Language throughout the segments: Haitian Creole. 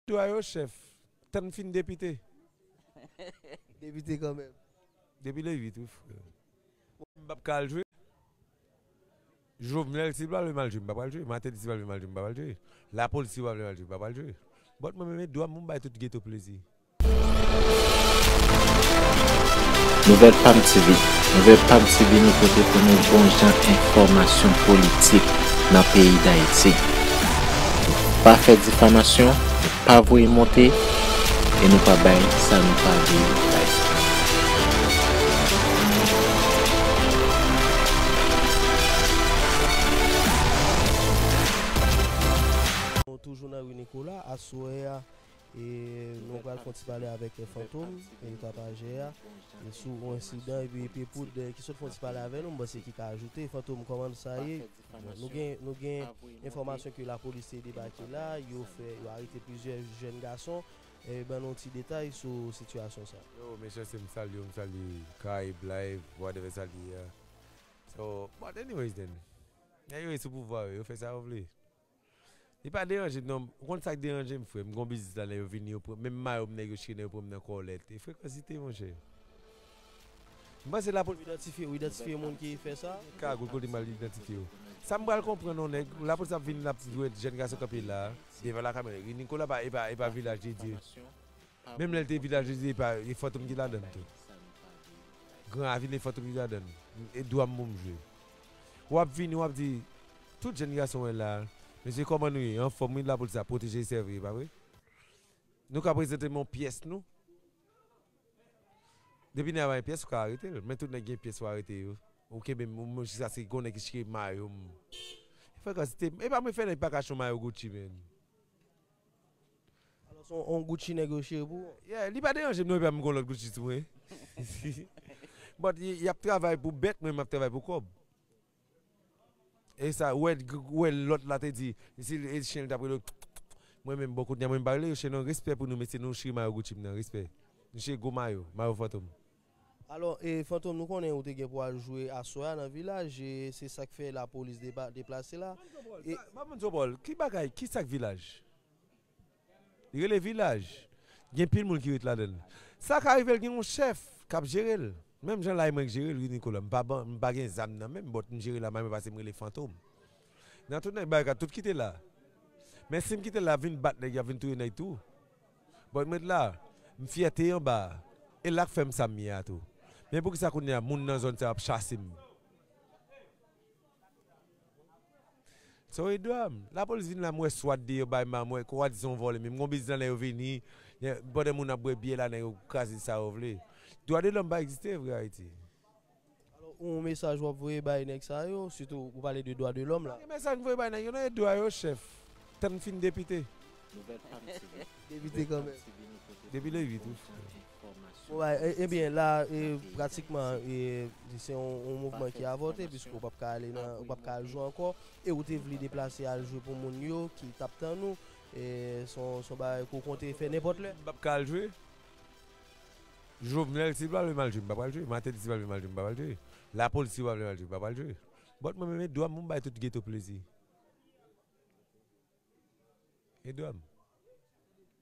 Dwa yo chef, tann fin depite. Depite kanmenm. Depi le 8 wi freo. Mwen pap ka al jwe. Jovenel si li pa vle mal jwe mpa pral jwe Mateli si pa vle mal jwe mpa pral jwe la police si yo pa vle mal jwe mpa pral jwe but mwen menm e dwam pou m bay tout geto plezi. Nouvèl Pam TV, Nouvèl Pam TV nou pote pou nou bon jan enfòmasyon politik nan peyi Dayiti. pa fè difamasyon, pa voye monte e nou pa bay sa nou pa vle yo bay. Toujou nan Rue Nicolas aswè a e nou pral konti pale avèk Fantom e Tapajè a sou yon ensidan epi Epe Poud ki sot fon ti pale avè nou m panse ki ka ajoute Fantom kòman sa ye? Nou gen enfòmasyon ke lapolis te debake la, yo arete plizyè jèn gason. Ban nou ti detay sou sitiyasyon sa. Yo men chèche m salye w m salye Caraïbes live whatever sa l ye a so but anyways then nèg yo ye sou pouvwa yo yo fè sa yo vle. Li pa deranje m non. Ou konn sak deranje m frè m gon biznis la lè yo vini yo pran menm mayo m nèg yo chire nan yo pran m nan kòlèt e frekansite monchè m panse la polis Idantifye ou idantifye moun ki fè sa? Gen kagoul kote m al idantifye yo sa m pral konprann non nèg la polis ap vini lap wè jèn gason kanpe la devan lakay mwen ri Nikola pa epa epa vilaj de Dye menm lè l te vilaj de Dye epa e fantom ki ladann tou gran avil e fantom ki ladann e dwa m pou m jwe wap vini wap di Tout jèn gason mwen la. Mesye kòman nou ye anfòm wi lapolis la pwoteje e sèvi epa vre nou ka prezante'm yon pyès nou depi nèg la pa gen pyès ou ka arete'l men tout nèg gen pyès ou arete yo ou kenbe'm mwen jiskaske gon nèg ki chire mayo'm epa mwen fè nèg paka chire yon mayo Gucci menn Alò se yon Gucci nèg yo chire pou ou? Yeah li pa deranje'm non epa mwen gon lòt Gucci sou mwen but yap travay pou bèt mwen map travay pou kòb. E sa wè lòt la te di si chen li tap rele yo kkkk mwen menm bon kounye a mwen pa rele yo chen non respè pou nou mesye nou chire mayo Gucci m nan respè nou chire gwo mayo mayo fantom. Alò e Fantom nou konnen ou te gen pou al jwe aswè a nan vilaj e se sak fè lapolis deplase la e. Banm di w Paul ki bagay ki sak vilaj. Li rele vilaj. Gen anpil moun ki ret ladan l. Sa ka rive l gen yon chèf k ap jere l. Menm jan lay mwen k jere l wi Nikola. M pa ban, m pa gen zam nan men m bòt m jere la may mwen pase m rele fantom. Nan tout nèg Barikad tout kite la. Men si m kite la y ap vin bat nèg y ap vin touye nèg tou. Bòt m ret la. M fyète anba a. E la k fè m sa m ye a tou. Men poukisa kounye a moun nan zòn sa yo ap chase m. Son yon dram, lapolis vin la mwen swat deyò bay ma mwen kwwa di son vòlè menm gon biznis la nèg yo vini pandan moun ap bwè byè la nèg yo kraze sa yo vle. Dwa de lòm pa egziste vre Ayiti. Alò ou yon mesaj wap voye bay nèg sa yo sitou ou pale de dwa de lòm la. Ki mesaj m voye bay nèg yo nan e dwa yo chèf tann m fin depite. Depite kanmenm. Depi le 8 wi frè. Bon bagay, ebyen la pratikman se yon mouvman ki avòte piske ou pap ka ale nan, ou pap ka al jwe ankò e ou te vle deplase al jwe pou moun yo ki tap tann ou, se yon bagay ke w konte fè nenpòt lè? M pap ka al jwe, Jovenel si l pa vle m al jwe m pa pral jwe, Martelly si l pa vle m al jwe m pa pral jwe, lapolis si yo pa vle m al jwe m pa pral jwe, bòt mwen menm e dwa m pou m bay tout geto plezi, e dwa m.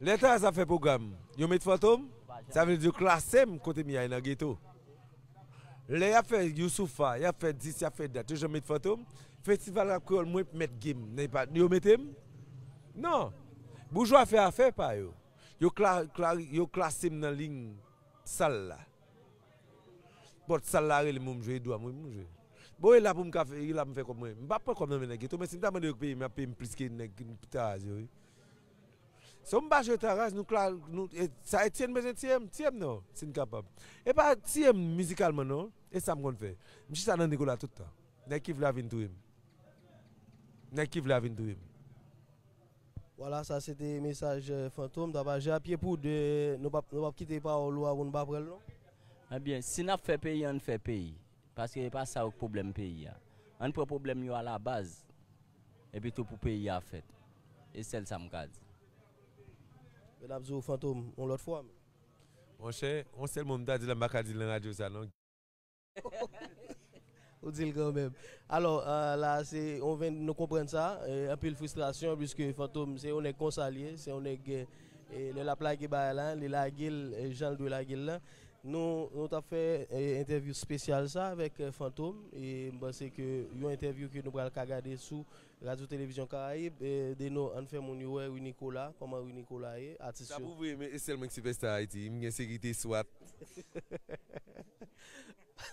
Lè Taz ap fè pwogram yo met Fantom, sa vle di yo klase m kote Miay nan geto. Lè y ap fè Youssoupha, y ap fè dis, y ap fè dat, yo janm met Fantom. Festival Rap Kreyòl mwen p mèt gem nan epa yo mete m. Non! Boujwa fè afè pa yo. Yo klari, yo klase m nan lign sal la. Pòt sal la rele m pou m jwe, dwa m wi pou m jwe. Bon e la pou m ka fè, e la pou m fè kòb mwen. M pa pran kòb nan men nèg geto men si m ta mande yo peye m, y ap peye m plis ke nèg Taz yo wi. Sèm pa jwe ta raz nou klal nou sa Etienne bezwen tiyem tiyem non sin kapab epa tiyem mizikalman non esam konn fè m chita nan Nicolas tout tan nèg ki vle a vin touyem nèg ki vle a vin touyem. Wala sa se te mesaj Fantom tap aji a pye pou 2 nou pap nou pap kite pawòl ou a pou nou pa pranl non. Ebyen si nap fè peyi ann fè peyi paske epa sa yo k pwoblèm peyi a ann pran pwoblèm yo a la baz. Epi tou pou peyi a fèt. E sèl sa m ka di. Yo tap di ou fantom yon lòt fwa menm. Monchè, yon sèl mo m ta di la m pa ka di l nan radyo sa non. Ou di l kanmenm. Alò, la a se yon 20, nou konprann sa. Anpil fristrasyon piske fantom se yon nèg konsa l ye. Se yon nèg lè l ap lage bagay la li lage l jan l dwe lage l lan. Nou tap fè entèvyou spesyal sa avèk Fantom e m panse ke yon entèvyou ke nou pral ka gade sou Radyo Televizyon Karayib. Deno ann fè moun yo wè Rinicola, kòman Rinicola ye, atis yo. Sa pou vre men e sèl mwen ki sipèsta Ayiti, m gen sekirite swat.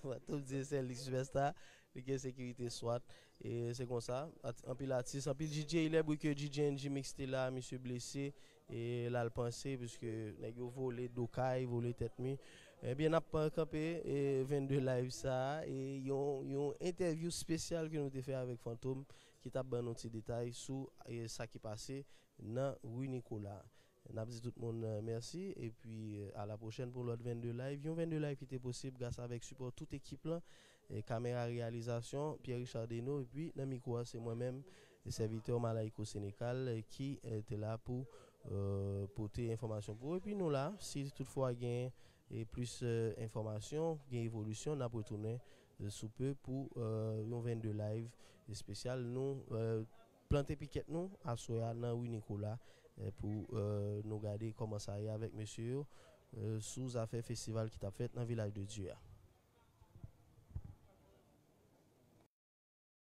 Fantom di e sèl li ki sipèsta, li gen sekirite swat. E se konsa, anpil atis, anpil DJ, il est bri ke DJ NG-Mix te la, misye blese. E lal panse pske nèg yo vole do kay vole tèt mi ebyen nap kanpe 22 live sa e yon entèvyou spesyal ke nou te fè avèk Fantom ki tap ban nou ti detay sou sa ki pase nan rue Nicolas nap di tout moun mèsi epi a la pwochèn pou lòt 22 live yon 22 live ki te posib gras avèk sipò tout ekip lan kamera reyalizasyon Pierre Richard Deno epi nan mikwo a se mwen menm Sèvitè Malaïcos Sénécal ki te la pou pote enfòmasyon pou ou epi nou la si tout fwa gen plis enfòmasyon, gen evolisyon nap retounen sou pe pou yon 22 live espesyal nou plante pikèt nou aswè a nan rue Nicolas pou nou gade kòman sa ye avèk mesye yo sou zafè festival ki tap fèt nan Vilaj de Dye a.